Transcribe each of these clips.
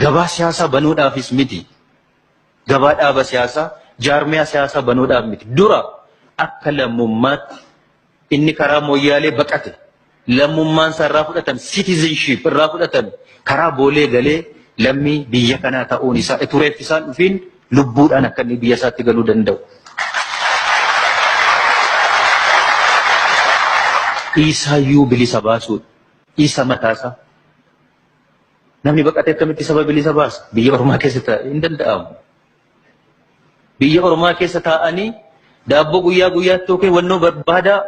Gabaa siyaasaa banoodhaafis miti. Gabaa dhaaba siyaasaa, jaarmiyaa siyaasaa banoodhaaf miti. Dura akka lammummaatti inni karaa Moyyaalee baqate lammummaan isaa irraa fudhatame, citizenship irraa fudhatame karaa Boolee galee lammii biyya kanaa ta'uun isaa utuu reeffisaan dhufiin lubbuudhaan akka inni biyya isaatti galuu danda'u. Isaayyuu bilisa baasuudha. Isa mataasaa. Namni baqatee akkamitti saba bilisa baasa? Biyya ormaa keessa taa'e hin danda'amu. Biyya ormaa keessa taa'anii daabboo guyyaa guyyaatti yookiin wannoo barbaadaa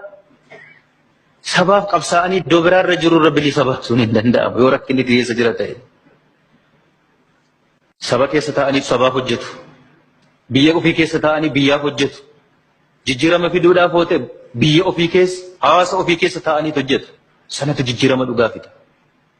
sabaaf qabsaa'anii iddoo biraarra jirurra bilisa baasuun hin danda'amu yoo rakkinni keessa jira ta'e. Saba keessa taa'anii sabaaf hojjetu. Biyya ofii keessa taa'anii biyyaaf hojjetu. Jijjiirama fiduudhaaf hoote biyya ofii keessa hawaasa ofii keessa taa'anii hojjetu. Sanatu jijjiirama dhugaa fida.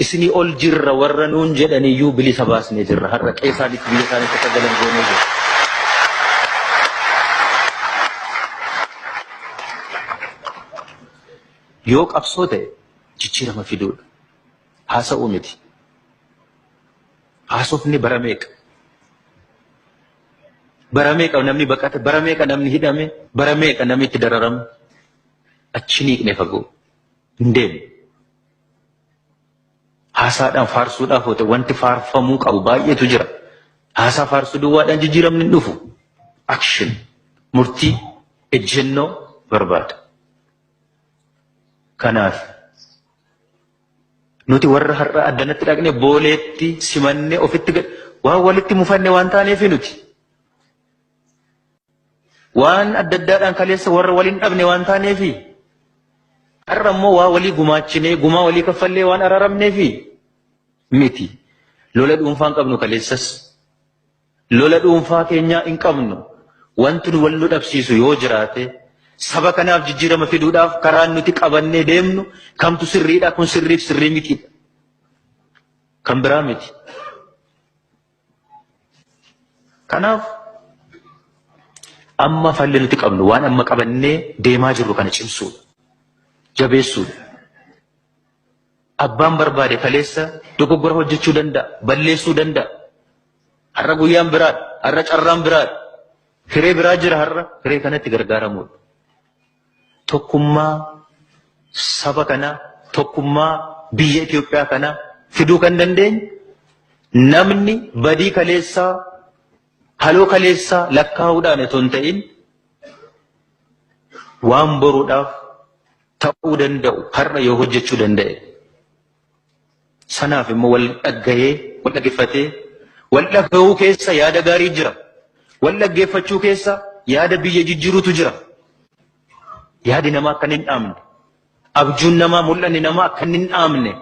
Isinii ol jirra warra nuun jedhaniyyuu bilisa baasnee jirra. Har'a qe'ee isaaniitti biyya isaaniitti akka galan goonee jirra. Yoo qabsoo ta'e jijjiirama fiduudha. Haasa'uu miti. Haasofni bara meeqa? Bara meeqa namni baqate? Bara meeqa namni hidhame? Bara meeqa namni itti dararame? Achi niiqne fagoo hin deemu. Haasaadhaan faarsuudhaaf oote wanti faarfamuu qabu baay'eetu jira. Haasaa faarsuu duwwaadhaan jijjiiramni hin dhufu. Action murtii ejjennoo barbaada. Kanaaf nuti warra har'a addanatti dhaqne booleetti simanne ofitti waan walitti mufanne waan taaneef nuti. Waan adda addaadhaan kaleessa warra waliin dhabne waan taaneefi har'a immoo waa walii gumaachinee gumaa walii kaffallee waan araaramneefi miti. Lola dhuunfaa hin qabnu kaleessas. Lola dhuunfaa keenyaa hin qabnu. Wanti nu wal nu dhabsiisu yoo jiraate saba kanaaf jijjiirama fiduudhaaf karaan nuti qabannee deemnu kamtu sirriidha kun sirriif sirrii mitiidha. Kan biraa miti. Kanaaf amma falli nuti qabnu waan amma qabannee deemaa jirru kana cimsuudha. Jabeessuudha. Abbaan barbaade kaleessa dogoggora hojjechuu danda'a, balleessuu danda'a. Har'a guyyaan biraadha, har'a carraan biraadha. Hiree biraa jira har'a, hiree kanatti gargaaramuudha. tokkummaa saba kanaa, tokkummaa biyya Itoophiyaa kanaa fiduu kan dandeenyu namni badii kaleessaa, haloo kaleessaa lakkaa'uudhaan otoo hin ta'in waan boruudhaaf ta'uu danda'u har'a yoo hojjechuu danda'e. Sanaaf immoo wal dhaggahee, wal dhaggeeffatee, wal dhagahuu keessa yaada gaarii jira. Wal dhaggeeffachuu keessa yaada biyya jijjiirutu jira. Yaadi namaa akka hin dhaamne, abjuun namaa, mul'anni namaa akka hin dhaamne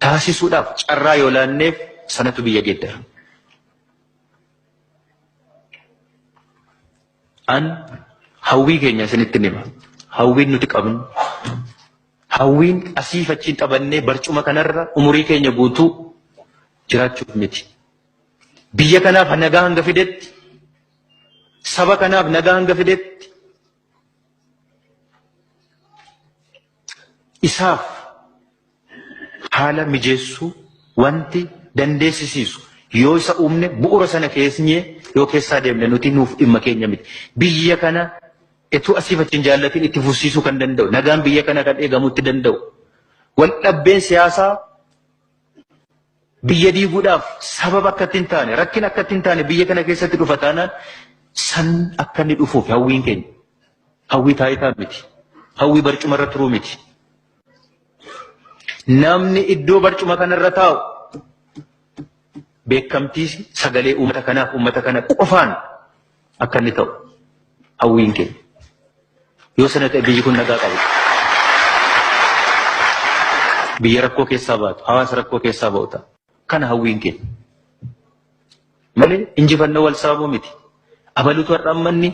taasisuudhaaf carraa yoo laanneef sanatu biyya geeddara. An hawwii keenya isinitti hima. Hawwiin nuti qabnu Hawwiin asiif achiin taphannee barcuma kanarra umurii keenya guutuu jiraachuuf miti. Biyya kanaaf nagaa hanga fidetti, saba kanaaf nagaa hanga fidetti, isaaf haala mijeessuu wanti dandeessisiisu yoo isa uumne bu'uura sana keessnyee yoo keessaa deemne nuti nuuf dhimma keenya miti. Biyya kana Utuu asiif achi hin jaallatiin itti fufsiisuu kan danda'u, nagaan biyya kana kan eegamuu itti danda'u, waldhabbeen siyaasaa biyya diiguudhaaf sababa akka itti hin taane, rakkina akka itti hin taane biyya kana keessatti dhufa taanaan san akka inni dhufuuf hawwiin keenya. Hawwii taayitaa miti. Hawwii barcuma irra turuu miti. Namni iddoo barcuma kanarra taa'u beekamtii sagalee uummata kanaaf uummata kana qofaan akka inni ta'u hawwiin keenya. Yoo sana ta'e biyyi kun nagaa qabu. Biyya rakkoo keessaa baatu, hawaasa rakkoo keessaa ba'u ta'a. Kana hawwiin keenya. Malee injifannoo wal saamuu miti. Abalutu har'a ammanni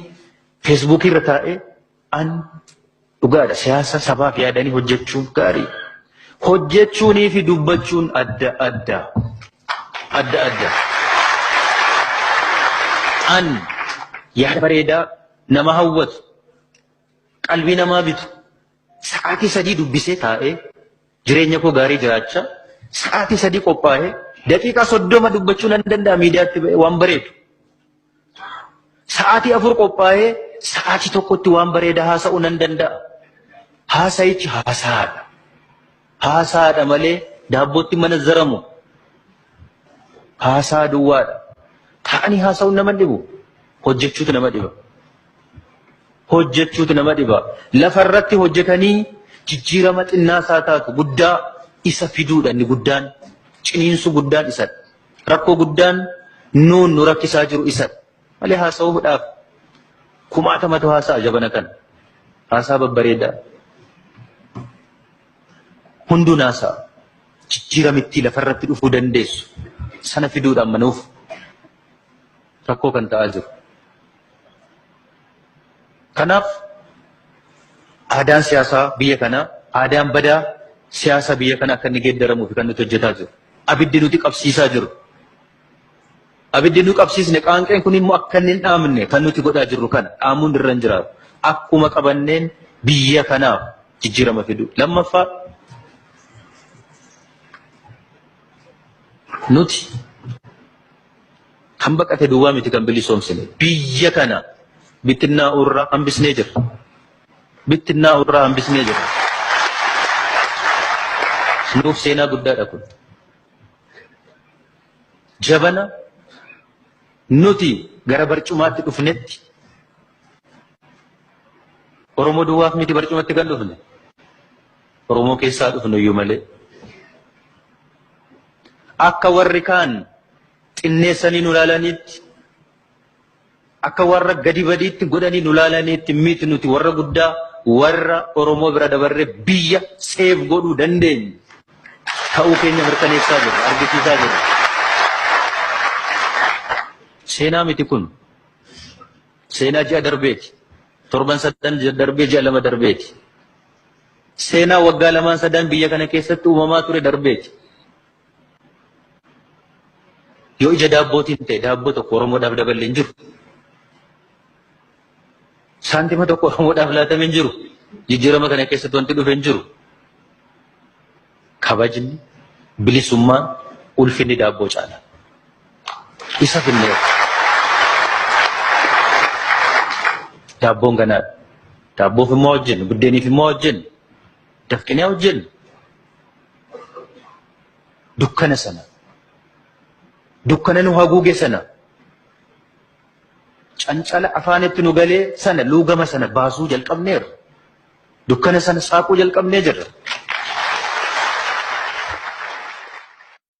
feesbuukii irra taa'ee An dhugaadha siyaasa sabaaf yaadanii hojjechuun gaariidha. Hojjechuunii fi dubbachuun adda adda. Adda adda. An yaada bareedaa nama hawwatu qalbii namaa bitu sa'aatii sadii dubbisee taa'ee jireenya koo gaarii jiraachaa sa'aatii sadii qophaa'ee daqiiqaa soddoma dubbachuu nan danda'a miidiyaatti ba'ee waan bareedu. Sa'aatii afur qophaa'ee sa'aatii tokkotti waan bareedaa haasa'uu nan danda'a. Haasa'ichi haasaadha. Haasaadha malee daabbootti mana zaramu. Haasaa duwwaadha. Taa'anii haasa'uun nama dhibu. Hojjechuutu nama dhiba. Hojjechuutu nama dhiba. Lafarratti hojjetanii jijjiirama xinnaas haa taatu guddaa isa fiduudha inni guddaan ciniinsuu guddaan isadha. Rakkoo guddaan nuun nu rakkisaa jiru isadha. Malee haasa'uudhaaf kumaatamatu haasa'a jabana kana. Haasaa babbareedaa. Hunduun haasa'a. Jijjiiramittii lafarratti dhufuu dandeessu. Sana fiduudha amma nuuf. rakkoo kan ta'aa jiru. Kanaaf aadaan siyaasaa biyya kanaa aadaan badaa siyaasa biyya kana akka inni geeddaramuuf kan nuti hojjetaa jiru. Abiddi nuti qabsiisaa jiru. Abiddi nu qabsiisne qaanqeen kun immoo akka inni hin dhaamne kan nuti godhaa jirru kana dhaamuun irra hin jiraatu. Akkuma qabanneen biyya kanaaf jijjiirama fidu. Lammaffaa nuti Kan baqate duwwaa miti kan bilisoomsine. Biyya kana bittinnaa'uu irraa hambisnee jirra. Bittinnaa'uu irraa hambisnee jirra. Nuuf seenaa guddaadha kun. Jabana nuti gara barcumaatti dhufnetti Oromoo duwwaaf miti barcumatti kan dhufne. Oromoo keessaa dhufne iyyuu malee. Akka warri kaan xinneessanii nu laalaniitti, akka warra gadi badiitti godhanii nu laalaniitti miti nuti warra guddaa warra Oromoo bira dabarree biyya seef godhuu dandeenyu ta'uu keenya mirkaneessaa jirra, argisiisaa jirra. Seenaa miti kun. Seenaa ji'a darbeeti. Torban sadan darbee ji'a lama darbeeti. Seenaa waggaa lamaan sadaan biyya kana keessatti uumamaa ture darbeeti. Yoo ija daabbootiin ta'e daabboo tokko Oromoodhaaf daballe hin jiru. Saantima tokko Oromoodhaaf laatame hin jiru. Jijjiirama kana keessatti wanti dhufe hin jiru. Kabajni, bilisummaan, ulfinni daabboo caala. Isa finneerra. Daabboon ganaadha. Daabboof immoo hojjennu, buddeeniif immoo hojjennu, dafqinee hojjennu. Dukkana sana, dukkana nu haguuge sana, cancala afaanitti nu galee sana, luugama sana baasuu jalqabneerra. Dukkana sana saaquu jalqabnee jirra.